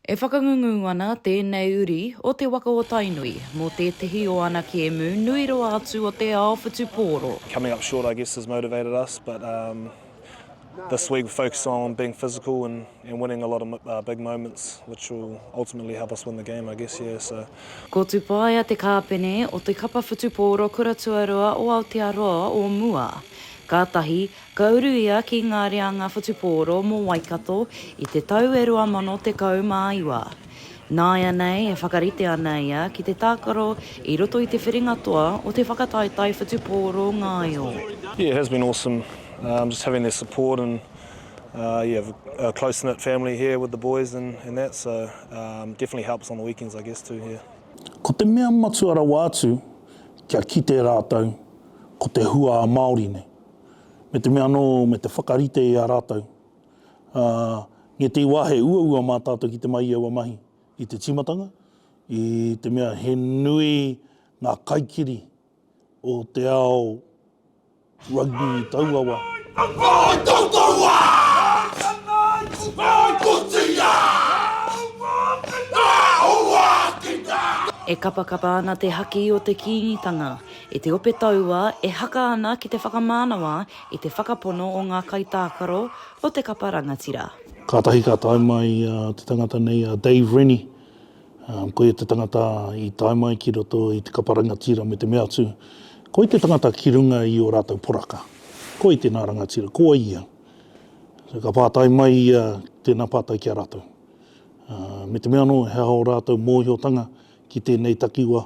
E whakangungu ana tēnei uri o te waka o Tainui mō tētehi o ana kēmu nui roa atu o te ao whutupōro. Coming up short I guess has motivated us but um this week we're focusing on being physical and and winning a lot of big moments which will ultimately help us win the game I guess yeah so. Ko Tupaea te kāpene o te kapa whutupōro kura tuarua o Aotearoa o mua. Kātahi, Ka uru ia ki ngā reanga whutupōro mō Waikato i te tau e 2019. Nāianei e whakarite ana ia ki te tākaro i roto i te whiringa toa o te whakataetae whutupōro ngaio. Yeah it has been awesome um just having their support and uh yeah a close knit family here with the boys and and that so um definitely helps on the weekends I guess too yeah. Ko te mea matua rawa atu kia kite rātou ko te hua a Māori nei. me te mea anō me te whakarite i a rātou. Ā, nge te wā he uaua mā tātou ki te mai i aua mahi i te tīmatanga, i te mea he nui ngā kaikiri o te ao rugby i taua wā. E kapakapa ana te haki o te Kīngitanga, I te ope taua e haka ana ki te whakamānawa i te whakapono o ngā kaitākaro o te kapa rangatira. Kātahi ka tae mai te tangata nei a Dave Rennie, koia te tangata i tae mai ki roto i te kapa rangatira me te mea atu, koi te tangata ki runga i o rātou poraka, koi tēnā rangatira, ko ia. Ka pātai mai ia tēnā pātai ki a rātou, me te mea anō he aha o rātou mōhiotanga ki tēnei takiwa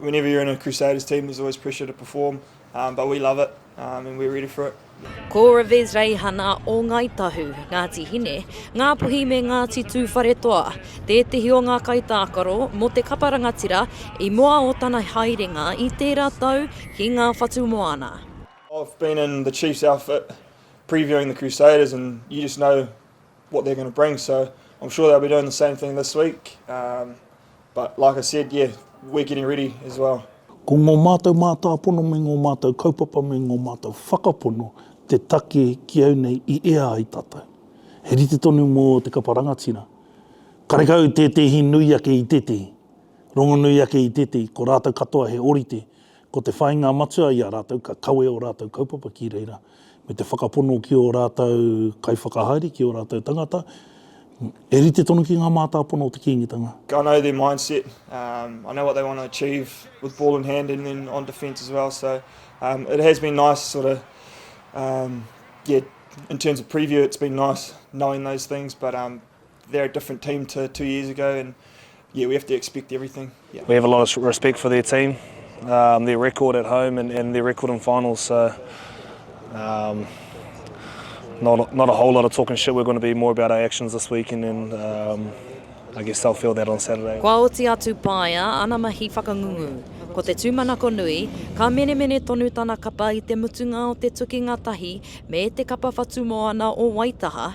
Whenever you're in a Crusaders team, there's always pressure to perform, um, but we love it um, and we're ready for it. Ko Revez Reihana o Ngai Tahu, Ngāti Hine, Ngāpuhi me Ngāti Tūwharetoa, tētehi o ngā kaitākaro mō te kapa rangatira i mua o tana haerenga i tērā tau ki ngā whatu moana. I've been in the Chiefs outfit previewing the Crusaders and you just know what they're going to bring so I'm sure they'll be doing the same thing this week um, but like I said yeah we're getting ready as well. Ko ngō mātou mātāpono me ngō mātou kaupapa me ngō mātou whakapono te take ki au nei i ea ai tātou. He rite tonu mō te kapa rangatira. Karekau tētehi nui ake i tētehi, rongonui ake i tētehi, ko rātou katoa he orite, ko te whāinga matua i a rātou ka kawe o rātou kaupapa ki reira. me te whakapono ki ō rātou kaiwhakahaere, ki ō rātou tangata, e rite tonu ki ngā mātāpono o te Kīngitanga. I know their mindset, um, I know what they want to achieve with ball in hand and then on defence as well, so um, it has been nice sort of, um, yeah, in terms of preview it's been nice knowing those things, but um, They're a different team to two years ago and yeah, we have to expect everything. Yeah. We have a lot of respect for their team, um, their record at home and, and their record in finals. So um, not, not a whole lot of talking shit. We're going to be more about our actions this weekend and um, I guess they'll feel that on Saturday. Kua oti atu paia ana mahi whakangungu. Ko te tūmanako nui, ka menemene tonu tana kapa i te mutunga o te tukinga tahi me te kapa whatumoana o Waitaha